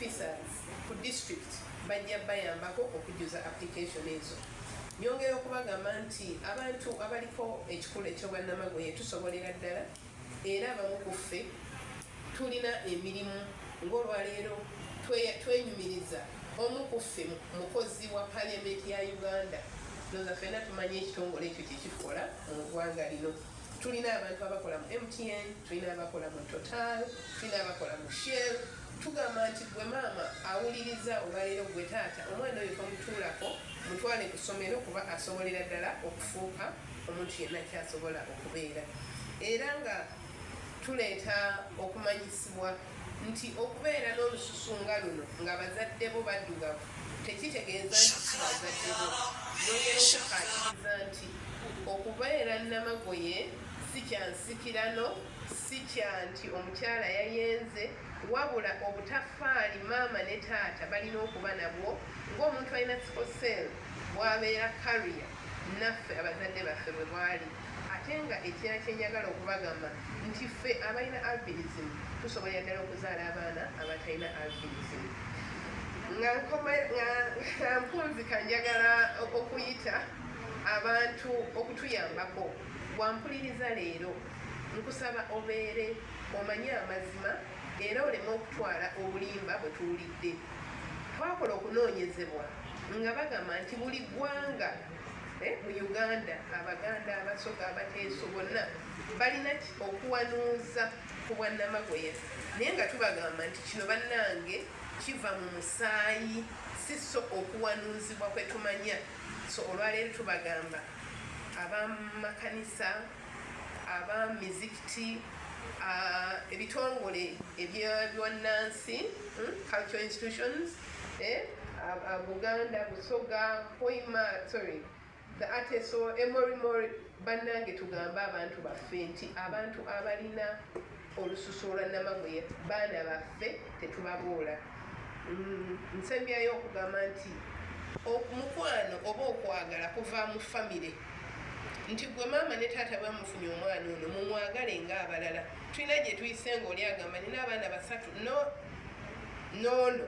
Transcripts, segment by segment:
officers ku district bajja bayambako okujuza application ezo nyongera okubagamba nti abantu abaliko ekikula ekyobwannamagoye tusobolera ddala era abamu ku ffe tulina emirimu ng'olwaleero twenyumiriza omu ku ffe mukozi wa parliament ya uganda noza fena tumanyi ekitongole ekyo kyekikola mu ggwanga lino tulina abantu abakola mu mtn tulina abakola mu total tulina abakola mu shell tugamba nti gwe maama awuliriza olwaleero gwe taata omwana oyo tomutuulako mutwale ku ssomero kuba asobolera ddala okufuuka omuntu yenna kyasobola okubeera era nga tuleeta okumanyisibwa nti okubeera n'olususu nga luno nga bazadde bo baddugavu tekitegeeza nti kibazadde bo yongera okukaatiriza nti okubeera namagoye si kya nsikirano si kya nti omukyala yayenze wabula obutafaali maama ne taata balina okuba nabwo ng'omuntu alina sikosel bwabeera kariya naffe abazadde baffe bwe bwali ate nga ekirala kyenjagala okubagamba nti ffe abalina albinism tusobolera ddala okuzaala abaana abatalina albinism nga nkunzika njagala okuyita abantu okutuyambako wampuliriza leero nkusaba obeere omanye amazima era oleme okutwala obulimba bwe tuwulidde twakola okunoonyezebwa nga bagamba nti buli ggwanga Eh, mu uganda abaganda abasoga abateeso bonna balina okuwanuuza ku bwannamagoya naye nga tubagamba nti kino bannange kiva mu musaayi si so okuwanuuzibwa kwe tumanya so olwaleero tubagamba abamakanisa abamizikiti ebitongole ebyannansi hmm, cultural institutions eh, Buganda, Busoga, Hoima, sorry, the Ateso, Emorimori, bannange tugambe abantu baffe nti abantu abalina olususu olwa namagoye baana baffe tetubabuula mm, nsembyayo okugamba nti omukwano oba okwagala kuva mu famire nti gwe maama ne taata bamufunye omwana ono mumwagale nga abalala tulina gye tuyise ngaoli agamba nina abaana basatu no noono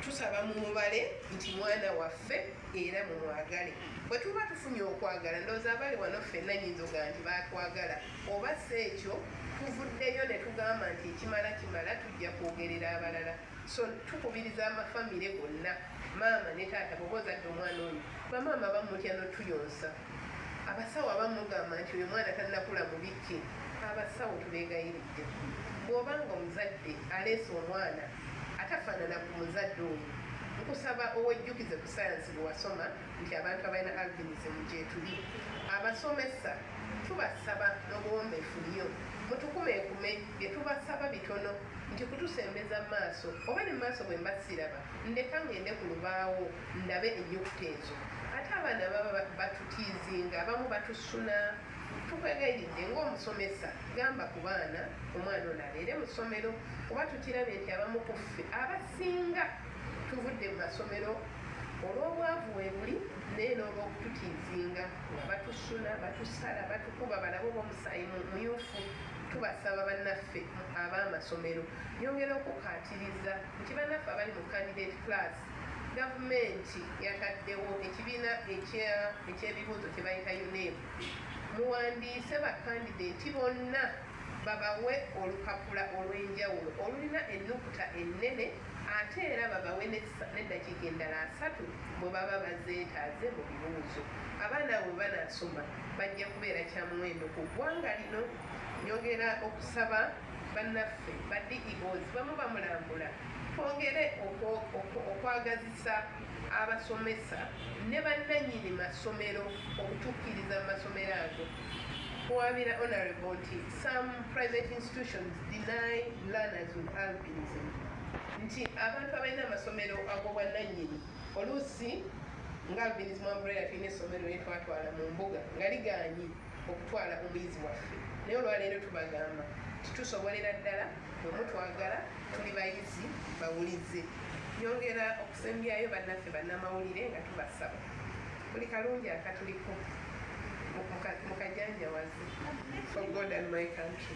tusaba mu mubale nti mwana waffe era mumwagale bwe tuba tufunye okwagala ndooza abali wano ffenna nyinza oga nti batwagala oba si ekyo tuvuddeyo ne tugamba nti ekimala kimala tujja kwogerera abalala so tukubiriza amafamire gonna maama ne taata boba ozadde omwana oyo bamaama bamutya notuyonsa abasawo abamu mugamba nti oyo mwana tannakula mubikki abasawo tubeegayiridde bw'oba nga omuzadde aleese omwana atafaanana ku muzadde oyo nkusaba owejjukize ku sayansi bwe wasoma nti abantu abalina albinism gyetuli abasomesa tubasaba n'obuwombeefu nnyo mutukumekume bye tubasaba bitono nti kutusembeza mu maaso oba ne mu maaso bwe mbasiraba ndeka ng'ende ku lubaawo ndabe ennyukuta ezo ate abaana baba batutiizinga abamu batusuna tukwegayiridde ngaomusomesa gamba ku baana omwana ono abeere mu ssomero kuba tukirabye nti abamu ku ffe abasinga tuvudde mu masomero olw'obwavu webuli naye n'olwokututiizinga nga batusuna batusala batukuba balaba oba omusaayi mumyufu tubasaba bannaffe ab'amasomero yongera okukaatiriza nti bannaffe abali mu candidate class gavumenti yataddewo ekibiina eky'ebibuuzo kye bayita UNEB muwandiise bakandideeti bonna babawe olupapula olw'enjawulo olulina ennukuta ennene ate era babawe n'eddakiika endala asatu bwe baba bazeetaaze mu bibuuzo abaana abo banaasoma bajja kubeera kya muwendo ku ggwanga lino nyongera okusaba bannaffe ba DEOs bwe muba mulambula twongere okwagazisa abasomesa ne bannannyini masomero okutukkiriza mu masomero ago kuwaabira honorable nti some private institutions deny learners with albinism nti abantu abalina amasomero ag'obwannannyini oluusi nga albinism umbrella tulina essomero lyetwatwala mu mbuga nga ligaanyi okutwala omuyizi waffe naye olwaleero tubagamba titusobolera ddala bwemutwagala tuli bayizi bawulize nyongera okusembyayo bannaffe bannamawulire nga tubasaba buli kalungi akatuliko mukajanjawazi for god and my country